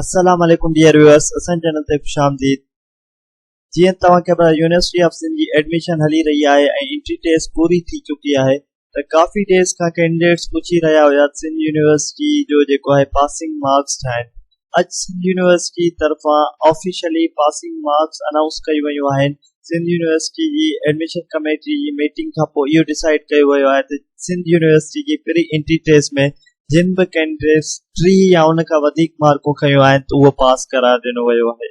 السلام عليڪم dear viewers اسان جي چينل تي خوش آمديد جيئن توهان کي خبر يونيورسٽي آف سنڌ جي ايڊميشن هلي رهي آهي ۽ انٽري ٽيسٽ پوري ٿي چڪي آهي ته ڪافي ڊيز کان ڪينڊيڊيٽس پڇي رهيا هيا ته سنڌ يونيورسٽي جو جيڪو آهي پاسنگ مارڪس ڇا آهن اڄ سنڌ يونيورسٽي طرفان آفيشلي پاسنگ مارڪس انائونس ڪيون ويون آهن سنڌ يونيورسٽي جي ايڊميشن ڪميٽي جي ميٽنگ کان پوء اهو ڊسائيڊ ڪيو ويو آهي ته سنڌ يونيورسٽي جي پري انٽري ٽيسٽ ۾ جن به ڪينڊيڊيٽس ٽي يا ان کان وڌيڪ مارڪون کنيون آهن ته اهو پاس قرار ڏنو ويو آهي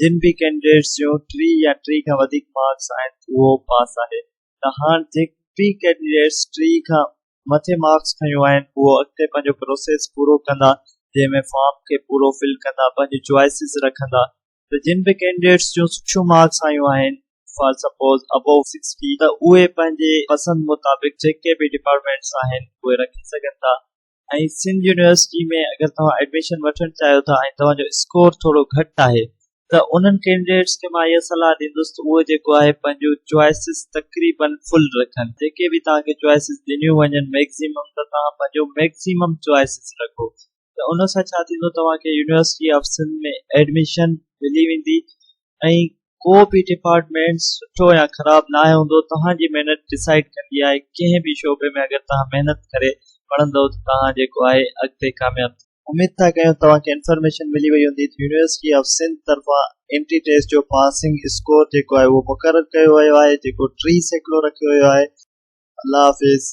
جن به ڪينڊيڊيٽس جون ٽي يا ٽي کان وڌيڪ مارڪس آهن ته اهو پاس آهي ته هاڻ جي به ڪينڊيڊيٽس ٽي کان مٿي مارڪس کنيون آهن اهو اڳتي پنهنجو پروسيس پورو ڪندا جنهن ۾ فارم کي پورو فل ڪندا پنهنجون چوائسز رکندا ته جن به ڪينڊيڊيٽس جون سٺيون مارڪس آيون آهن فار سپوز ابو سڪسٽي ته اهي پنهنجي پسند مطابق جيڪي به ڊپارٽمينٽس آهن اهي رکي سگهن ٿا ۽ سنڌ يونيورسٽي ۾ اگر توهان ايڊميشن وٺڻ چاهيو ٿا ۽ توهان جو اسڪور ٿورو گهٽ آهي ته انهن ڪينڊيڊيٽس کي مان اها صلاح ڏيندس ته اهي جيڪو آهي پنهنجون چوائسز تقريباً فل رکن جيڪي به توهان کي چوائسز ڏنيون وڃن ميڪزيمم ته توهان پنهنجو ميڪزيمم چوائسز رکو ته ان سان ڇا ٿيندو توهان کي يونيورسٽي آفيسن ۾ ايڊميشن ملي ويندي ۽ ڪو به ڊپارٽمينٽ سٺو يا خراب ناهي هوندو توهان جي محنت ڊسائيڊ ڪندي آهي ڪنهن به شعبي ۾ اگر توهان محنت ڪري پڙهندو ته توهان جيڪو آهي اڳتي ڪامياب ٿيندو. اميد ٿا ڪيون توهان کي انفارميشن ملي وئي هوندي ته يونيورسٽي آف سنڌ طرفان انٽري ٽيسٽ جو پاسنگ اسڪور جيڪو آهي اهو مقرر ڪيو ويو آهي جيڪو ٽي سيڪڙو رکيو ويو آهي الله حافظ.